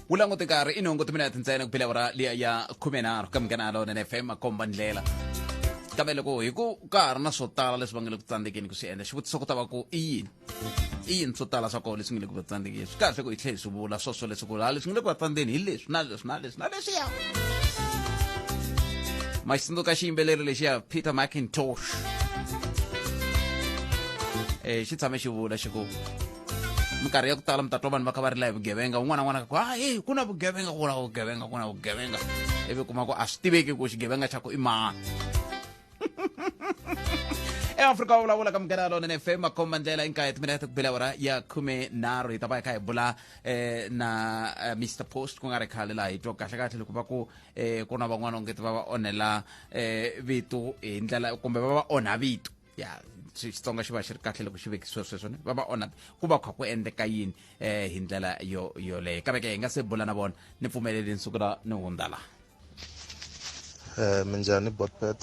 wu langute nkarhi i nhungu timinete ntsena ku phela vura liya ya khume nharhu ka minghana lona na fm makomba ndlela kambe loko hi ku ka ha ri na swo tala leswi va nga le ku tsandzekeni ku swi endla xivutiso ku ta va ku i yini i yini swo tala swa kona leswi nga le ku va tsandzekeni swi kahle ku hi tlhe hi swi vula swoswo leswaku laha leswi nga le ku va tsandzeni hi leswi na leswi na leswi na leswiya ma xi tsundzuka xiyimbeleri lexiya peter macintosh um xi tshame xi vula xi ku minkarhi ya ku tala mi ta twa vanhu va kha va rila hi vugevenga un'wana n'wana ku a e ku na vugevenga ku na vugevenga ku na vugevenga ivi kuma ku a swi tiveki ku xigevenga xa ku i mani eafrika wa vulavula ka mugera lona nfm makhomba ndlela i nkaye timinete ku bela wara ya khume nharhu hi ta va hi kha hi bula eh, na eh, mr post ku nga ri khale laha hi twa kahle kahle loko va ku eh, ku na van'wana ongeti va va onhela eh, vito hi ndlela kumbe va va onha vito ya xitsonga xi va xi ri kahle loko xi vekisiwe sweswo ne va va onha ku va kha ku endleka yini um hi ndlela yo yoleyo kambe ke hi nga se bula na vona ni pfumeleli nsuku la ni hundza laha um minjhani botpet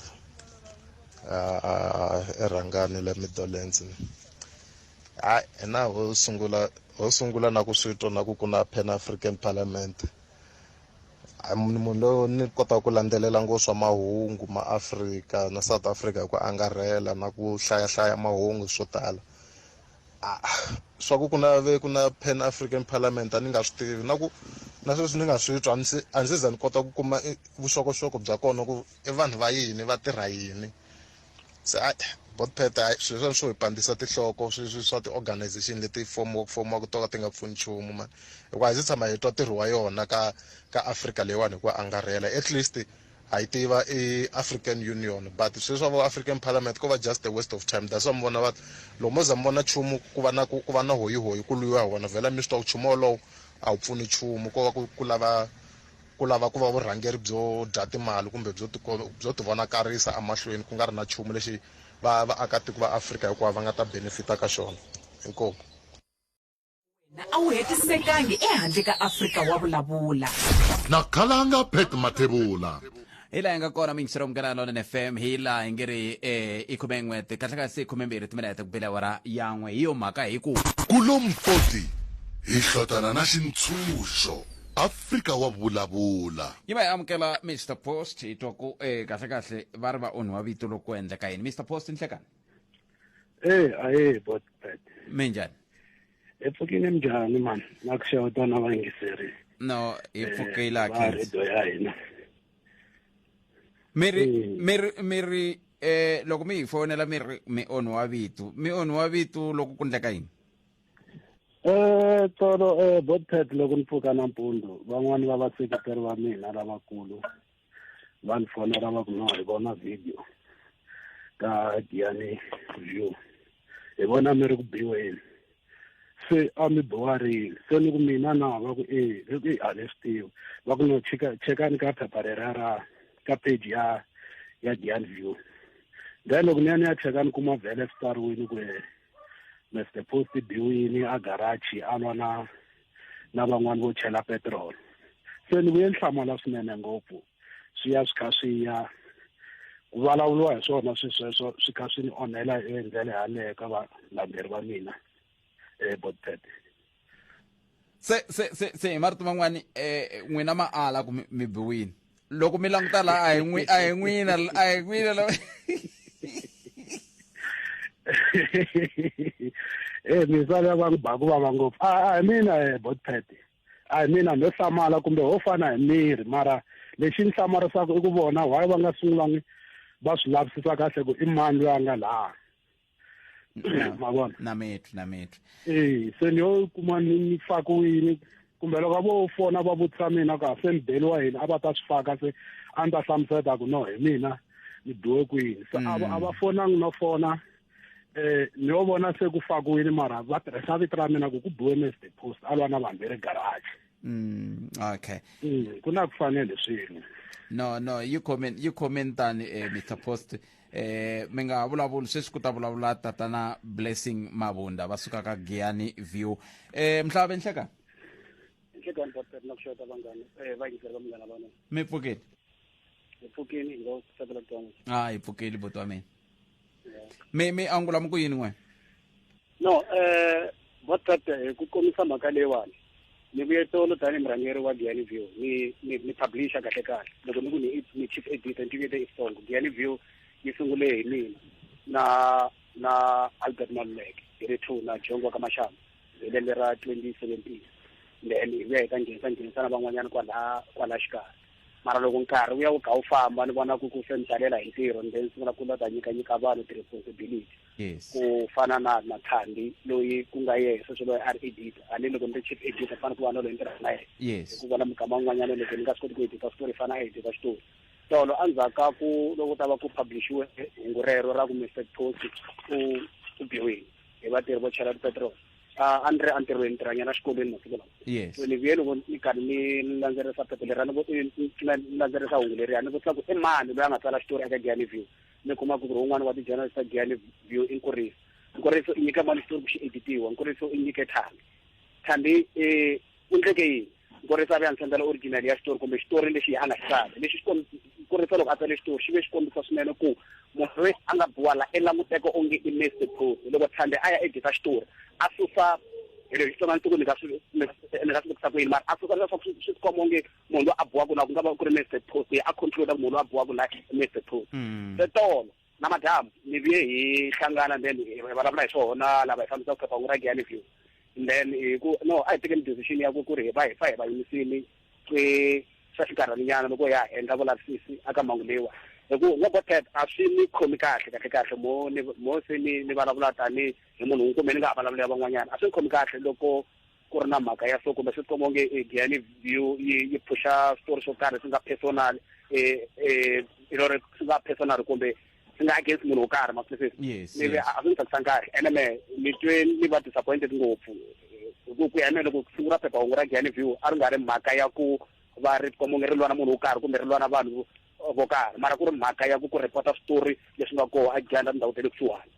erhangani le midolens hayi hina ho sungula ho sungula na ku swi twa na ku ku na pan african parliament ni munhu loyi ni kotaka ku landzelela ngo swa mahungu ma afrika na south africa hi ku angarhela na ku hlayahlaya mahungu swo tala ah, swa ku ku na ve ku na pan african parliament a ni nga swi tivi na ku na sweswi ni nga swi twa a ndzi za ni kota ku kuma vuxokoxoko bya kona ku i vanhu va yini va tirha yini se a botpet a swilo swa swo hi pandisa tinhloko sweswi swa ti-organization leti fomiwa ku fomiwa ku to ka ti nga pfuni nchumu mani hikuva hi se tshama hi twa ntirho wa yona ka ka africa leyiwani hi ku angarhela at least ha yi tiva i african union but swilo swa vo african parliament ko va just a waste of time that's why mi vona va loko mo za mi vona nchumu ku va na ku ku va na hoyihoyi ku lwiwa hi wona vhela mi swi twa ku nchumu wolowo a wu pfuni nchumu ko va ku ku lava ku lava ku va vurhangeri byo dya timali kumbe byo byo tivonakarisa emahlweni ku nga ri na nchumu lexi va vaakatiko va Afrika hikwavo va nga ta benefita ka xona. Inkomu. Wena a wu hetisekangi ehandle ka Afrika, wa vulavula. Na Khalanga Pat Mathebula. hi laha hi nga kona mingisiro munghana lona fm hi laha hi nge ri eh, i khume n'we kahlakasi khume mbirhi timinete ku bela wara yan'we hi yo mhaka hi ku kulompoti hi hlotana na xintshunxo afrika wa vulavula yi va hi amukela mr post hi twa ku eh, kahlekahle va ri va onhiwa vito loko ku endleka yini mr post nhlekani Eh, ahee botpet. minjhani hi pfukile njhani mani na ku xeweta na vayingiseri no hi eh, pfukile akhredo ya hina mi ri mm. mi ri mi ri eh loko mi hi fonela mi ri mi onhi wa vitu mi onhi wa vitu loko ku ndleka yini eh tolo eh botpet loko ni pfuka nampundzu van'wani va vaseketeri va mina lavakulu va ni fonela va ku no hi vona video ka Gianni View hi vona mi ri ku biweni se a mi biwarile se ni ku mina na va ku e i ku i a ni swi tivi va ku no cheka chekani ka phepha rera ra ka page ya ya Gianni View then loko ni ya ni ya cheka ni kuma vhele swi tsariwile ku Mr Post biwini a garage a lwa na na van'wani vo chela petrol se ni vuye ni hlamala swinene ngopfu swi ya swi kha swi ya ku vulavuriwa hi swona swi sweswo swi kha swi ni onhela hi ndlela yaleyo ka valandzeri va mina ebodpet se se se se hi marito man'wani eh n'wina ma ala ku mi biwini loko mi languta la a hi n'wi a hi n'wina a hi n'wina la eh mi sala va ku ba ku vava ngopfu a hi mina eh bot pet a hi mina no hlamala kumbe ho fana hi miri mara lexi ni hlamarisaka i ku vona why va nga sungulangi va swi lavisisa kahle ku i mani loyi a nga laha mavona na metri na metri e se ni yo kuma ni ni faka yini kumbe loko vo fona va vutisa mina ku a se ni beliwa yini a va ta swi faka se a ni ta hlamuseta ku no hi mina ni biwe kwini se a va mm. fonangi no fona um ni yo vona se ku fakiwile mara va tirhisa vito ra mina ku ku biwe mesi depost a lwa na vanhu ve ri garaji Mm, okay. Mm, ku na ku fanele swin'we. No, no, yi comment yi comment tani eh Mr Post eh mi nga ha vulavuli sweswi ku ta vulavula tatana blessing mavunda va suka ka giyani view eh mhlava benhleka nhlekani pastor na ku xota vanghana eh va yingisela va munghana vana mi pfukile hi pfukile hi nga tsakela ku twan'we a hi pfukile boti wa mina mi mi angula mi ku yini n'wena no um eh, botcat hi eh, ku komisa mhaka leyiwani ni vuye tolo tanihi murhangeri wa giyani view ni ni ni publisha kahle kahle loko ni ku ni ni chief editor ni tivete isong giyani view yi sungule hi mina na na albert maluleke hi ri two na jongo wa ka maxamba hi lembe ra twenty seventeen then hi vuya hi ta nghenisa nghenisa na van'wanyana kwalaha kwalaha xikarhi mara loko nkarhi wu ya wu kha wu famba ni vona ku ku se ni talela hi ntirho ni then ni sungula ku la ta nyika nyika vanhu ti-responsibility yes ku fana na na thandi loyi ku nga ye sweswo loyi a ri edita a ni loko ni ri chief edita fana ku va na loyi ni tirhaka na yena yes ku vona mukama un'wanyana loko ni nga swi koti ku edita switori fana a edita switori tolo endzhaku ka ku loko ta va ku publishiwe hungu rero ra ku mr post u u biwile hi vatirhi vo chela petrol a a ni ri entirhweni ni tirhanyana xikolweni masiku lawa yes so ni vuye loko ni karhi ni ni landzelerisa phepha leriya ni vo- ni- ni- ni landzelerisa hungu leriya ni vutisa ku i mani loyi a nga tsala xitori eka gianiview ni kuma ku ri un'wana wa ti-journalist ta giyani view i nkuriso nkuriso i nyika mali xitori ku xi editiwa nkuriso i nyike thambi thambi um u ndleke yini nkuriso a ve a ni sendela original ya xitori kumbe xitori lexi a nga xi tsali lexi kurisa loko a tsale xitori xi ve xi kombisa swinene ku munhu loyi a nga biwa la i languteka onge i mester proof loko thambi a ya edita xitori a susa hi leswi tsonga ni tiku ni nga swi ni nga swi vekisa ku yini mara a susa leswaku swi swi tikomba onge munhu loyi a buwaka la ku nga va ku ri mese post a concluda munhu loyi a buwaka la mese post mm. se tolo na madamu ni vuye hi hlangana then hi vulavula hi swona lava hi fambisa ku phephahungu ra giyani view then hi ku no a hi tekeni decision ya ku ku ri hi va hi fa hi va yimisini ke swa xinkarhaninyana loko ya endla vulavisisi aka mhangu leyiwa hi ku nga botet a swi ni khomi kahle kahle kahle mo ni mo se ni ni vulavula tani hi munhu un'we kumbe ni nga ha vulavula ya van'wanyana a swi ni khomi kahle loko ku ri na mhaka ya so kumbe swi tikomba onge eh, giyani view yi yi phuxa switori swo karhi swi nga personal um eh, eh, you know swi nga personal kumbe swi nga against munhu wo karhi masifisi nive a swi ni tsakisa nkarhi ene me ni twe ni va disappointed ngopfu ku ku ya mina loko siku ra phephahungu ra giyani view a ri nga ri mhaka ya ku va ri tikomba onge ri lwana munhu wo karhi kumbe ri lwana vanhu vo karhi mara ku ri mhaka ya ku ku repota switori leswi nga koho a giyani ra tindhawu ta le kusuhani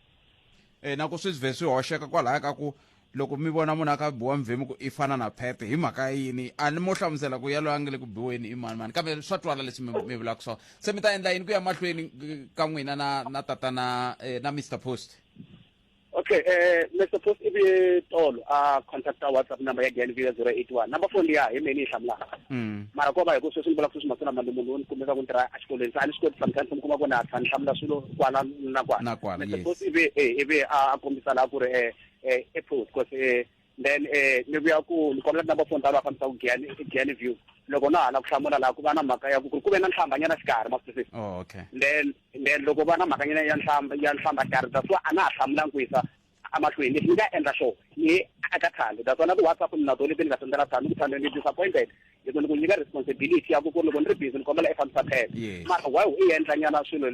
um na ku swi vhe swi hoxeka kwalaya ka ku Loko mi vona munhu a kha a biwa mvhemu ku i fana na phephe hi mhaka yini? A ni mo hlamusela ku yaloye a nge le ku biweni i mani mani kambe swa twala leswi mi mi vulaka swona. Se mi ta endla yini ku ya mahlweni ka n'wina na na tatana eh, na Mr Post? Okay, eh Mr Post i vuye tolo a contacta WhatsApp number ya Glen View ya 081. Number phone liya hi mina yi hlamulaka. Mm. Mara ko va hi ku sweswi ni vulaka sweswi masiku lama ni munhu loyi ni kumeka ku ni tirha exikolweni se a ni swi koti sometimes mi kuma ku na tlha ni hlamula swilo kwala na kwala. Na kwala, Mr yes. Post i vuye eh, i vuye a a kombisa laha ku ri eh eh ephuzi cause eh then eh ni vuya ku ni kombela number phone ta lava fambisa ku giyani giyani view loko na hala ku hlamula laha ku va na mhaka ya ku ku ve na nhlambanyana xikarhi masisisi oh, okay then then loko va na mhakanyana ya nhlamba ya nhlamba xikarhi that's why a na ha hlamulanga ku yisa amahlweni lexi ni nga endla sure ni aka thando that's why na ti-whatsapp ni na tona leti ni nga sendela thando ku thando ni disappointed loko ni ku nyika responsibility ya ku ku ri loko ni ri busy ni kombela i fambisa phepha Yes. mara why u endla nyana swilo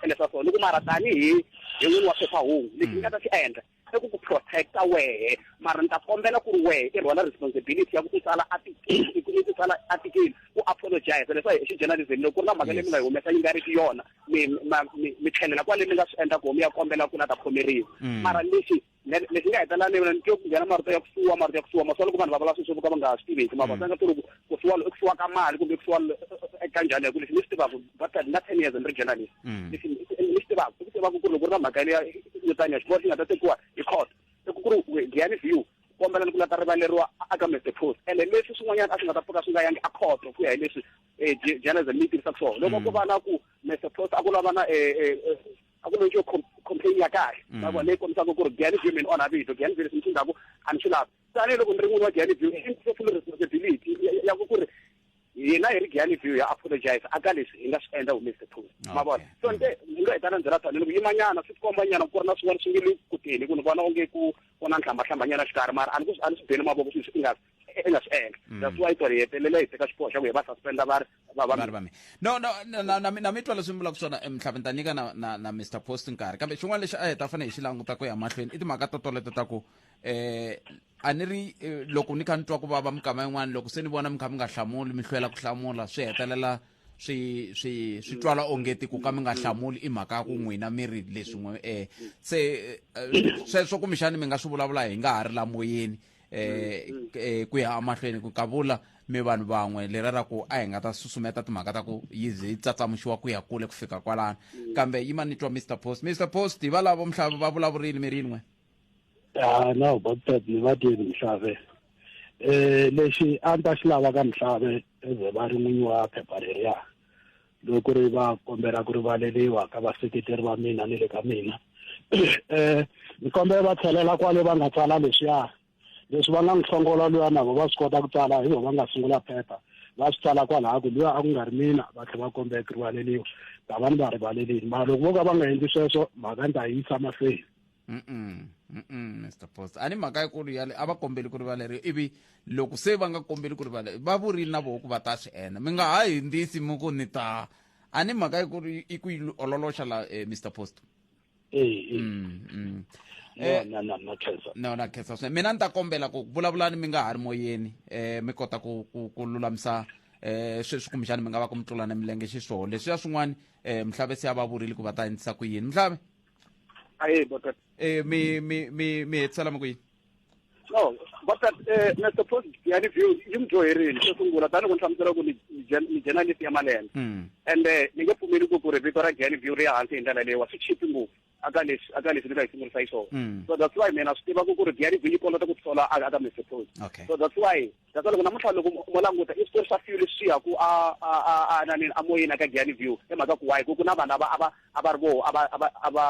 leswa so ni ku mara tanihi hi n'wini wa phephahungu lexi ni nga ta xi endla i ku ku protecta wehe mara ni ta kombela ku ri wehe i rhwala responsibility ya ku i tsala article i ku- i tsala article u apologize leswa hi xi journalism loko ku ri na mhaka leyi mi nga yi humesa yi nga ri ki yona mi ma- mi mi tlhelela kwale mi nga swi endla koho mi ya kombela ku la ta khomeriwa mara lexi lexi nga hetelela ni vona ni twe ku nghena marito ya ku suwa marito ya ku suwa maswa loko vanhu va vula sweswo ka va nga swi tiveki ma va tsanga ku ri ku suwa i ku suwa ka mali kumbe ku suwa eka njhani yaku lexi ni swi tivaka va ta na ten years ni ri journalist lexi ni swi tivaka i ku tivaka ku ri loko ri na mhaka ya yo taniya xiboho xi nga ta tekiwa hi court i ku ku ri giyani view kombela ni ku la ta rivaleriwa aka mr post ene leswi swin'wanyana a swi nga ta pfuka swi nga yangi a khoto ku ya hi leswi journalism yi tirhisa ku swona loko ku va na ku mr post a ku lava na a ku lexo complain ya kahle mm. ma vona leyi kombisaka ku ri gani view mi ni onha vito gani view leswi mi swi ndlaku a ni swi lavi tanihiloko ni ri n'wini wa gani view i ndzi full responsibility ya ku ku ri hina hi ri gani view ya apologize a ka leswi hi nga swi endla humese the post ma vona so nte ni nga hetana ndzela tani loko yimanyana swi tikomba nyana ku ri na swin'wana swi nge le kuteni ku ni vona onge ku ku na nhlambahlambannyana xikarhi mara a ni a ni swi beni mavoko sweswi i nga e nga swi endla mm. that's why ku ri hetelela hi teka xiboho xa ku hi va suspenda va ri vavari va mina no no na mi twa leswi mi vulaka swona emhlava ni ta nyika na na na mr post nkarhi kambe xin'wana lexi a hi ta fanele hi xi languta ku ya mahlweni i timhaka to toleto ta ku um a ni ri eh, loko ni kha ni twa ku vava mikama yin'wana loko se ni vona mi kha mi nga hlamuli mi hlwela ku hlamula swi hetelela swi swi swi twala ongeti ku ka mi nga hlamuli i mhaka ya ku n'wina mi ri leswin'we um se eh, sweswo kumbexani mi nga swi vulavula hi nga ha ri lamoyeni eh, mm, mm. eh ku ya amahlweni ku kavula mi vanhu van'we lera ra ku a hi nga ta susumeta timhaka ta ku yi ze yi tsatsamuxiwa ku ya kule ku fika kwalano mm. kambe yi ma ni twa mr post mr post hi valavo mhlava va vulavurile mi rin'we a na baptist ni va tiyeni mhlave um lexi a ni ta xi lava ka mhlave eze va ri n'winyi wa phepha leriya loko ku ri va kombela ku rivaleliwa ka vaseketeri va mina ni le ka mina um ni kombela va tlhelela kwale va nga tsala leswiya leswi va nga n'wi hlongola luya na vo va swi kota ku tsala hi vo va nga sungula phepha va swi tsala kwalaha ku luya a ku nga ri mina va tlhela va kombela ku rivaleliwa ta va ni va rivalelini mara loko vo ka va nga endli sweswo mhaka ni ta yi yisa mahlweni Mm-mm, mm-mm, mr post a ni mhaka yikulu yale a va kombeli ku rivaleriwa ivi loko se va nga kombeli ku rivaleriwa va vurile na voho ku va ta swi endla mi nga ha hindzisi mi ku ni ta a ni mhaka yikulu i ku yi ololoxa la eh, mr post ee Mm, mm. Eh, na na na khensa no na khensa swinene mina ni ta kombela ku vulavulani mi nga ha ri moyeni um mi kota ku ku ku lulamisa um sweswi kumbexani mi nga va ku mi tlulana milenge xiswona leswiya swin'wana um mhlave se a va vurile ku va ta endlisa ku yini mhlave aye botat eh mi mi mi mi hetsela makwini no botat eh Mr Post yani view yi mi dyoherile xo sungula tani ku ni hlamusela ku ni ni journalist ya malembe hmm. and eh, ni nge pfumeli ku ku ri vito ra Jan view ri ya hansi hi ndlela leyi wa swi chipi ngopfu aka leswi aka leswi ni nga yi sungurisa yi swona hmm. so that's why mina swi tiva ku ku ri Jan view yi kolota ku tisola aka Mr Post so that's why That's why loko namuntlha loko mo languta i switori swa few leswi ya ku a a a a na nini a moyeni aka Giyani View hi mhaka ku why ku ku na vanhu ava ava a va ri voho a va a va a va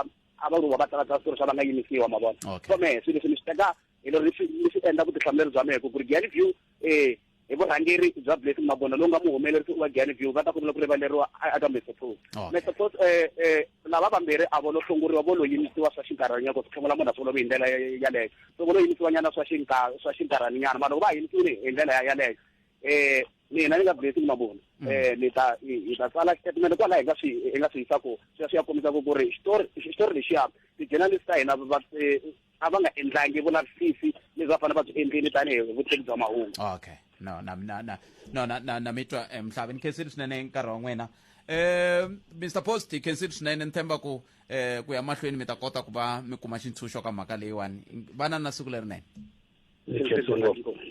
a va ri voho va tsala tsala switori swa va nga yimisiwa ma vona Okay. so mehe swilo leswi ni swi teka hi lero ni swi ni swi endla vutihlamuleri bya mehe ku ku ri Giyani View eh hi vurhangeri bya Blessing Mabona lowu nga muhumelerisi wa Giyani View va ta kombela ku rivaleriwa a- aka Mr Pros Okay. Mr Pros eh eh lava vambirhi a vo lo hlongoriwa vo lo yimisiwa swa xinkarhanyana ku swi tlhongela munhu a sungula ku hi ndlela ya- yaleyo loko no yimisiwa nyana swa xinkarhi swa xinkarhani nyana mara loko va yimisiwile hi ndlela ya yaleyo eh mina ni nga blessing mavona mm. eh ni ta hi ta tsala statement kwala hi nga swi hi nga swi yisa ku swi swi ya kombisa ku ku ri xitori xitori lexiya ti-journalist ta hina va eh, a va nga endlangi vulavisisi leswi va fanele va byi endlile tanihi vutivi bya mahungu okay no na na na no na na na mitwa eh, mhlavi ni khensile swinene nkarhi wa n'wina um eh, mr post hi khensile swinene ni tshemba ku eh ku ya mahlweni mi ta kota ku va mi kuma xintshunxo ka mhaka leyiwani vana na siku lerinene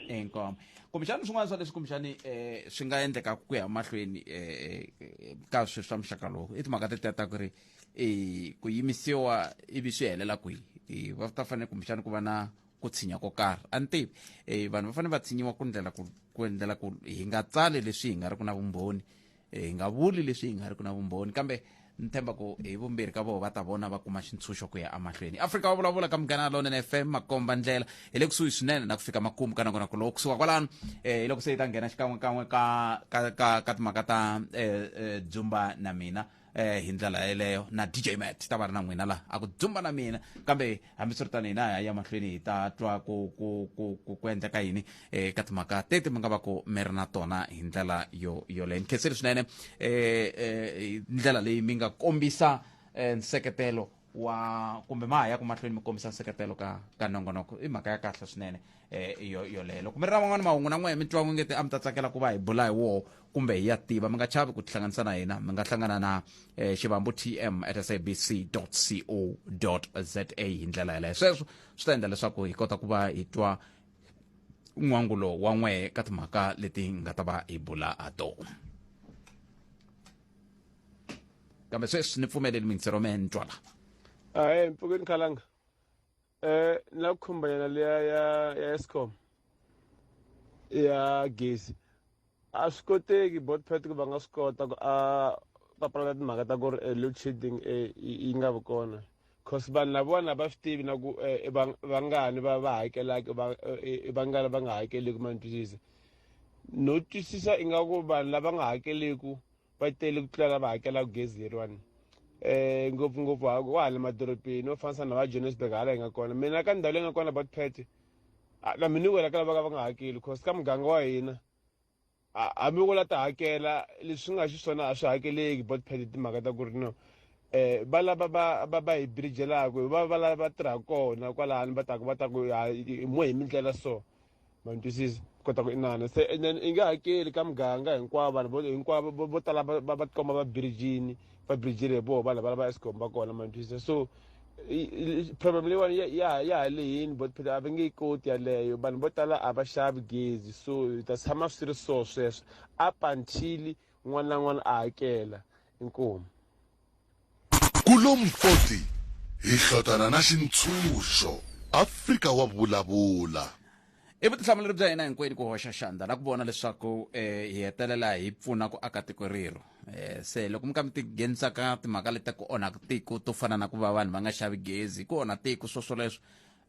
inkomo kumbexani swin'wana swa leswi kumbexani um swi nga endleka ku ya mahlweni um ka sweswi swa muxaka lowu i timhaka tetiya ta ku ri um ku yimisiwa ivi swi helela kwihi va ta fanele kumbexani ku va na ku tshinya ko karhi a ni tivi um vanhu va fanele va tshinyiwa ku ndlela ku endlela ku hi nga tsali leswi hi nga ri ku na vumbhoni hi nga vuli leswi hi nga ri ku na vumbhoni kambe ni tshemba ku hi vumbirhi ka vona va ta vona va kuma xintshunxo ku ya emahlweni afrika wa vulavula ka munghana lonene fm makomba ndlela hi le kusuhi swinene na ku fika makumu ka nakona ku loko kusuka kwalano um hi loko se hi ta nghena xikan'wekan'we ka ka ka ka timhaka ta um dzumba na mina um hi ndlela yeleyo na dj mat ta va ri na n'wina laha a ku dzumba na mina kambe hambiswiritano hina hi ya mahlweni hi ta twa ku ku ku ku ku endleka yini eh, ka timhaka teti mi nga va ku mi ri na tona hi ndlela yo yoleyo ni khenseli swinene eh, eh, hi ndlela leyi mi nga kombisa eh, nseketelo wa kumbe ma ha ya ku mahlweni mi kombisa nseketelo ka ka nongonoko i mhaka ya kahle swinene eh, yo yoleyo loko mi ri na man'wana mahungu na n'wehe mi twa n'we ngeti a mi ta tsakela ku va hi bula hi woho kumbe hi ya tiva mi nga chavi ku tihlanganisa na hina mi nga hlangana na eh, xivambo tm at sabc co za hi ndlela yeleyo sweswo swi ta endla leswaku hi kota ku va hi twa n'wangulo wa n'we ka timhaka leti nga ta va hi bula ha tona kambe sweswi ni pfumeleli mintsero me ni twala ahe mpfukeni khalanga Eh ni lava ku khumba yona leya ya ya Eskom ya gezi a swi koteki both party ku va nga swi kota ku a papalata timhaka ta ku ri eh, load shedding eh, yi yi nga vi kona cause vanhu lavawani a va swi tivi na ku eh, i vang- vangani va va hakelaka i vang- eh, eh, i vangani va nga hakeleki ma ni twisisa no twisisa ingaku vanhu lava nga hakeleku va tele ku tlula lava hakelaka gezi leriwani um ngopfungopfu wa hala madorobeni wo fanisa na va johannesburg hala hi nga kona mina ka ndhawu leyi nga kona batpet na mina wela ka lava ka va nga hakeli cause ka muganga wa hina hambi u la ta hakela leswi nga xiswona a swi hakeleki batpet hi timhaka ta ku ri no eh va lava ba ba ba hi birijelaka va va lava tirhaka kona kwalani va taku va taku mo hi mindlela so ma ni twisisa kota ku inana se and then i nge hakeli ka muganga hinkwawo vanhu vo hinkwavo vo- vo tala va va- va tikomba va birijini va birijini hi voho vanhu valava escom va kona ma ni twisisa so i- i- problem leyiwani ya- ya ya ha lehini but phela a va nge yi koti yaleyo vanhu vo tala a va xavi gezi so hi ta tshama swi ri so sweswo up until n'wana na n'wana a hakela inkomu Kulom 40, Hi hlotana na xintshunxo, Afrika wa vulavula! I vutihlamuleri bya hina hinkwenu ku hoxa xandla na ku vona leswaku um hi hetelela hi pfuna ku aka tiko rero um se loko mi ka mi tinghenisa ka timhaka leti ku onhaka tiko to fana na ku va vanhu va nga xavi gezi ku onha tiko swoswoleswo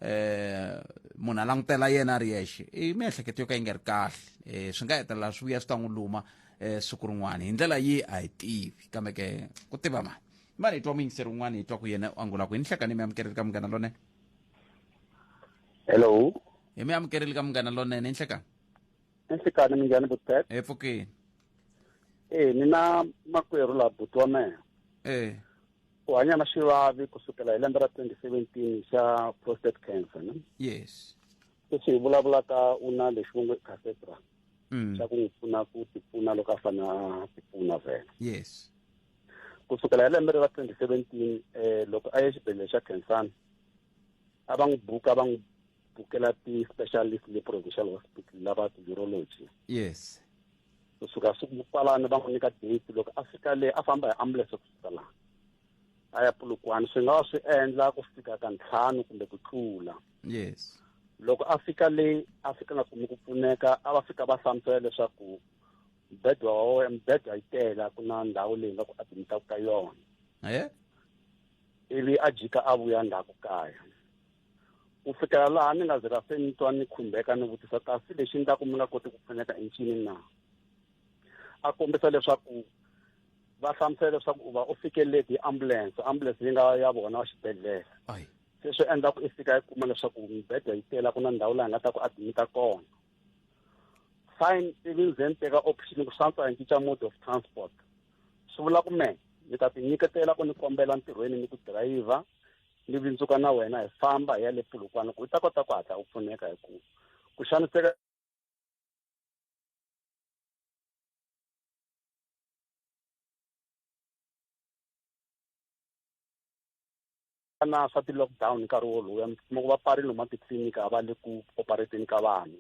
eh munhu a langutela yena a ri yexe i miehleketo yo ka yi nga ri kahle eh swi nga hetelela swi vuya swi ta n'wi luma eh siku rin'wana hi ndlela yi a hi tivi kambe ke ku tiva mani mani hi twa muyingiseri un'wana hi twa ku yena u angula ku hi ni hlekani mi amukeleli ka munghana lonene hello hi mi amukeleli ka munghana lonene hi nhlekani ni nhlikani mi njhani butet hi pfukini e ni na makwerhu laha buti wa mehe e u hanya na xivavi ku sukela hi lembe ra 2017 xa prostate cancer ne yes sweswi hi vulavulaka u na lexi vo nge cathedral mm. xa ku n'wi pfuna ku tipfuna loko a fana tipfuna vhela yes ku sukela hi lembe ra 2017 um eh, loko a ye xibedhlele xa khensani a va n'wi buka va n'wi bukela ti-specialist le provincial hospital lava ti-urology yes kusuka siku kwalani va n'wi nyika date loko a fika le a famba hi ambulance ku fika laha a ya pulukwani swi nga wa swi endla ku fika ka ntlhanu kumbe ku tlula yes loko a fika le a fika nga kumi ku pfuneka a va fika va hlamusela leswaku mbedwa wa wena mbedwa yi tela ku na ndhawu leyi nga ku adimitaku ka yona ivi a jika a vuya ndzhaku kaya ku fikela laha ni nga zira se ni twa ni khumbeka ni vutisa kasi lexi ndlaku mi nga koti ku pfuneka i ncini na a kombisa leswaku va hlamusela leswaku u va u fike leti hi ambulense ambulense yi nga ya vona wa xibedhlele se swi endla ku i fika yi kuma leswaku mibedwa yi tela ku na ndhawu laha nga ta ku admita kona fine ivi ndzi ni teka option ku swantswa hi cinca mode of transport swi vula ku me ni ta ti nyiketela ku ni kombela ntirhweni ni ku dirayivha ni vindzuka na wena hi famba hi ya le pulukwana ku u ta kota ku hatla u pfuneka hi ku ku xaniseka na swa ti-lockdown nkarhi wolowo mi ku va pfarile huma titliliniki a va le ku operateni ka vanhu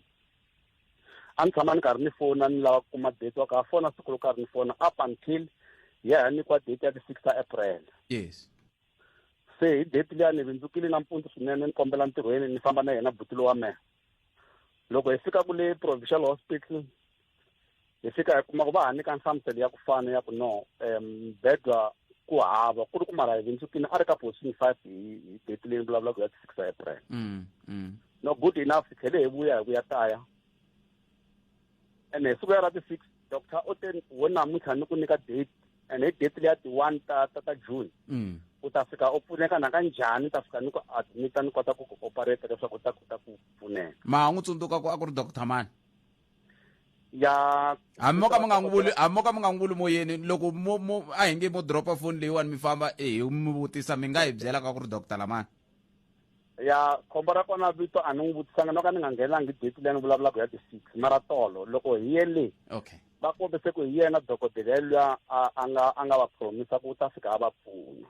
a ni tshama ni karhi ni fona ni lava ku kuma date wa ka fona siku ro karhi ni fona up until ya ha nyikiwa date ya ti-six ta april yes se hi date liya ni vindzukile nampundzu swinene ni kombela ntirhweni ni famba na yena butilo wa mehe loko hi fika kule provincial hospital hi fika hi kuma ku va ha nyika nhlamuselo ya ku fana ya ku no um bedwa ku hava ku ri ku mara hi vindzukini a ri ka position five hi hi date leyi ni vulavulaka ya six april mm, mm. no good enough hi tlhele hi vuya hi ku ya kaya ene hi siku ya ra ti-six doctor u te wo namuntlha ni ku nyika date and hi date leya ti-one ta ta ta june mm. u ta fika u pfuneka naka njhani ta fika ni ku admita ni kota ku ku operate leswaku u ta kota ku pfuneka ma ha n'wi tsundzuka ku a ku ri doctor mani ya hambi mo ka mi nga n'wi vuli hambi mo ka mi nga n'wi vuli mo yini loko mo mo a hi nge mo dropa foni leyiwani mi famba e hi mi vutisa mi nga hi byela ka ku ri doctor lamani ya khombo ra kona vito a ni n'wi vutisanga no ka ni nga nghenangi date leyi ni vulavulaka ya ti-six mara tolo loko hi ye le okay va kombise ku hi yena dokodela yelwiya a nga a nga va promisa ku u ta fika a va pfuna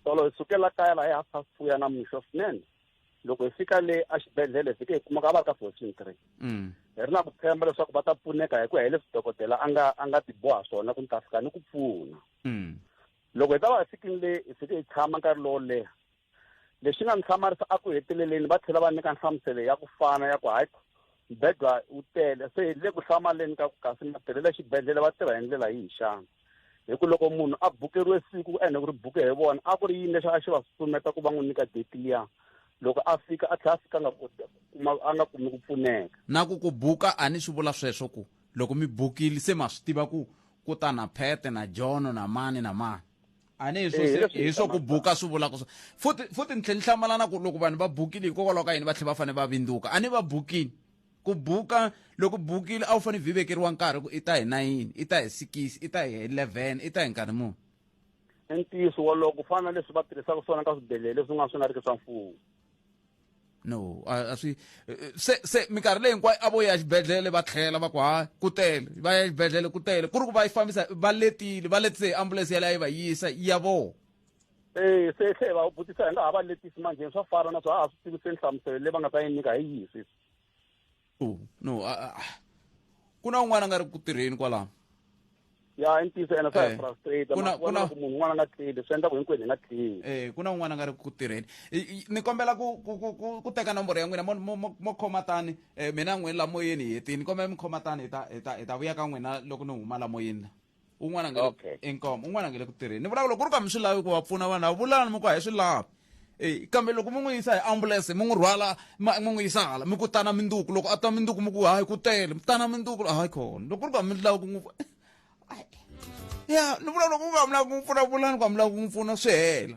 tolo hi sukela kaya laha hi half past two ya namixo swinene loko hi fika le exibedhlele hi fike hi kuma ka va ri ka fourteen three mm. hi ri na ku tshemba leswaku va ta pfuneka hi ku ya hi leswi dokodela a nga a nga tiboha swona ku ni ta fika ni ku pfuna mm. loko hi ta va hi fikini le hi fike hi tshama nkarhi lowo leha lexi nga ni hlamarisa a ku heteleleni va tlhela va nyika nhlamuselo ya ku fana ya ku hayi mbedwa wu tele se hi le ku hlamaleni ka ku kasi matirhelo exibedhlele va tirha hi ndlela yihi xana hi ku loko munhu a bukeriwe siku ku ene ku ri buke hi vona a ku ri yini leswi a xi va susumeta ku va n'wi nyika date liya loko a fika a tlhela a fika nga kuma a nga kumi ku pfuneka na ku ku buka a ni swi vula sweswo ku loko mi bukile se ma swi tiva ku ku ta na phete na jono na mani na mani a ni hi swo eh, hi swo ku buka swi vulaka swo futi futi ni tlhe ni hlamalana ku loko vanhu va bukile hikokwalaho ka yini va tlhe va fanele va vindzuka a ni va bukile ku buka loko bukile a wu fanele byi vekeriwa nkarhi ku i ta hi nayini i ta hi sikisi i ta hi eleven i ta hi nkarhi muni i ntiyiso wolowo ku fana na leswi va tirhisaka swona ka swibedhlele leswi nga swi nga ri ki swa mfumo no a swi se se minkarhi leyi hinkwayo a vo ya xibedhlele va tlhela va ku ha ku tele va ya xibedhlele ku tele ku ri ku va yi fambisa va letile va letise hi ambulense yaleyo yi va yisa ya vona e se tlhe va vutisa hi nga ha va letisi manjheni swa fana na swo a ha swi tivi se nhlamuselo leyi va nga ta yi nyika hi yihi sweswi no ku na un'wana a nga ri ku tirheni kwalaho ya i ntiyiso ene swa hi eh, frustrate ku na ku na ku munhu un'wana nga tleli swi endla ku hinkwenu hi nga tleli eh ku na un'wana nga ri ku tirheni ni kombela ku ku ku ku teka nomboro ya n'wina mo mo mo khoma tani eh mina n'wini la moyeni hi hetini ni kombela mi khoma tani hi ta hi ta hi ta vuya ka n'wina loko ni huma la moyeni la un'wana nge okay. inkomo un'wana nge le ku tirheni ni vulaka loko ku ri ka mi swi lavi ku va pfuna vanhu a vulani mi ku a hi swi lavi e kambe loko mi n'wi yisa hi ambulense mi n'wi rhwala mi n'wi yisa hala mi ku tana minduku loko a ta minduku mi ku hayi ku tele mi tana minduku hayi khona loko ku ri ka mi lavi ku n'wi ya ni vula loko u nga mi lavi ku n'wi pfuna vulani ku a mi lavi ku n'wi pfuna swi hela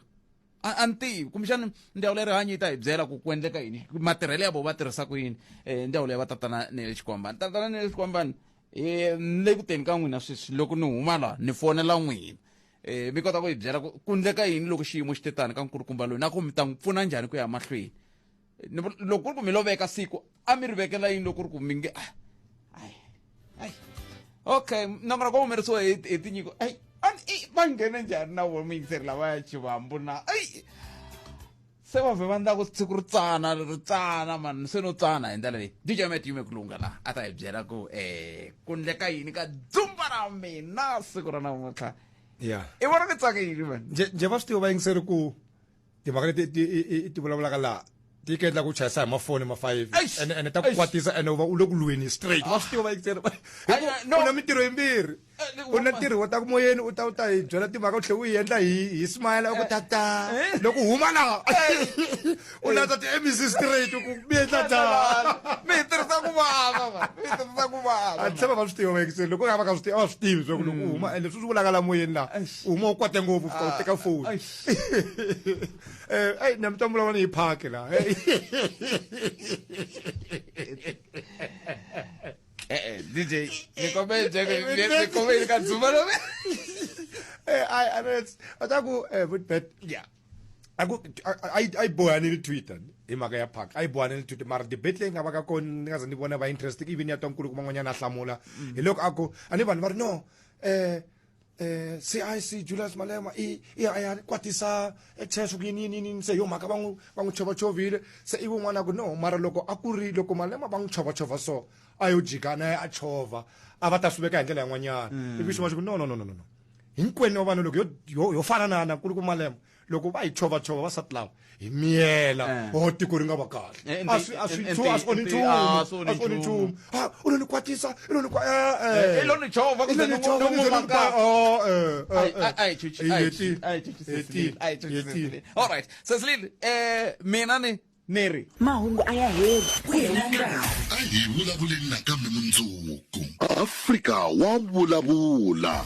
a ni tivi kumbexana ndzawulo ya rihanyo yi ta hi byela ku ku endleka yini matirhelo ya vo va tirhisa ku yini um ndzawulo ya vatatana ne le xikombani tatana ne le xikombani e ni le ku teni ka n'wina sweswi loko ni huma laha ni fonela n'wina e mi kota ku hi byela ku ku ndleka yini loko xiyimo xi te tani ka nkulukumba loyi na ku mi ta n'wi pfuna njhani ku ya mahlweni Ni vu- loko ku ri ku mi loveka siku a mi ri vekela yini loko ku ri ku mi nge ah, ai, ai. okay nambara ku humerisiwa hi hi tinyiko ai a ni- i, va nghene njhani na vona muyingiseri lavaya chivambu na ai se va vhe va ndla ku siku ri tsana ri tsana mani se no tsana hi ndlela leyi dj met yume ku lunga laha a ta hi byela ku um ku ndleka yini ka dzumba ra mina siku ra namuntlha ya i vona mi tsakile mani nje nje va swi tiva vayingiseri ku timhaka leti ti- i- i- ti vulavulaka laha ti yi kendla ku chayisa hi mafoni ma five Eish! ene ene ta ku Eish! kwatisa ene u va u le ku lweni straight va swi tiva vayingiseri Ai, ai, no. u na mintirho yimbirhi u na ntirho wo ta ku moyeni u ta u ta hi byela timhaka u tlhela u yi endla hi hi smile ku tata loko huma laha u landza ti-mec straight ku mi endla njhani mi hi tirhisa ku vava mi hi tirhisa ku vava a tshama va swi tiva vayekise loko nga va ka swi tiva a va swi tivi swaku loko u huma and leswi swi vulaka la moyeni laha u huma u kwate ngopfu fika u teka foni um eyi na mi ta vulavula ni hi phaki laha Eh, eh, DJ, mi come cioè, mi, mi come il canzumano. Eh, I, I know it's, but I go, eh, but, but, yeah. I go, I, I, I boy, I need Twitter. hi mhaka ya park a yi bohane ni tuti mara debate leyi nga va ka kona ni nga ze ni vona va interest even ya twankulu kun'wanyana a hlamula mm. hi loko a ku a ni vanhu va ri no um eh CIC Julius Malema i i ya kwatisa cheswo kuyini yini yini se yo mhaka va n'wi va n'wi chova chovile se i van'wana ku no mara loko a ku ri loko Malema va n'wi chova chova so a yo jika na a chova a va ta swi veka hi ndlela yin'wanyana ivi xin'wana xi ku no no no no no hinkwenu wa vanhu loko yo yo yo fananana ku ri ku Malema loko va hi chovachova vasati lava hi miyela eh. o oh, tiko ri nga va kahle eh, a swi a swi eh, a swi onhi nchumu ah, a swi onhi nchumu ha ah, u lo ni kwatisa u lo ni kwa eh eh lo ni chova ku ni chova ni chova ka oh eh ai ai chuchi ai ai chuchi ai chuchi all right Cecil eh mina ni neri mahungu a ya heli ku hela nkarhi a hi vulavuleni nakambe mundzuku afrika wa vulavula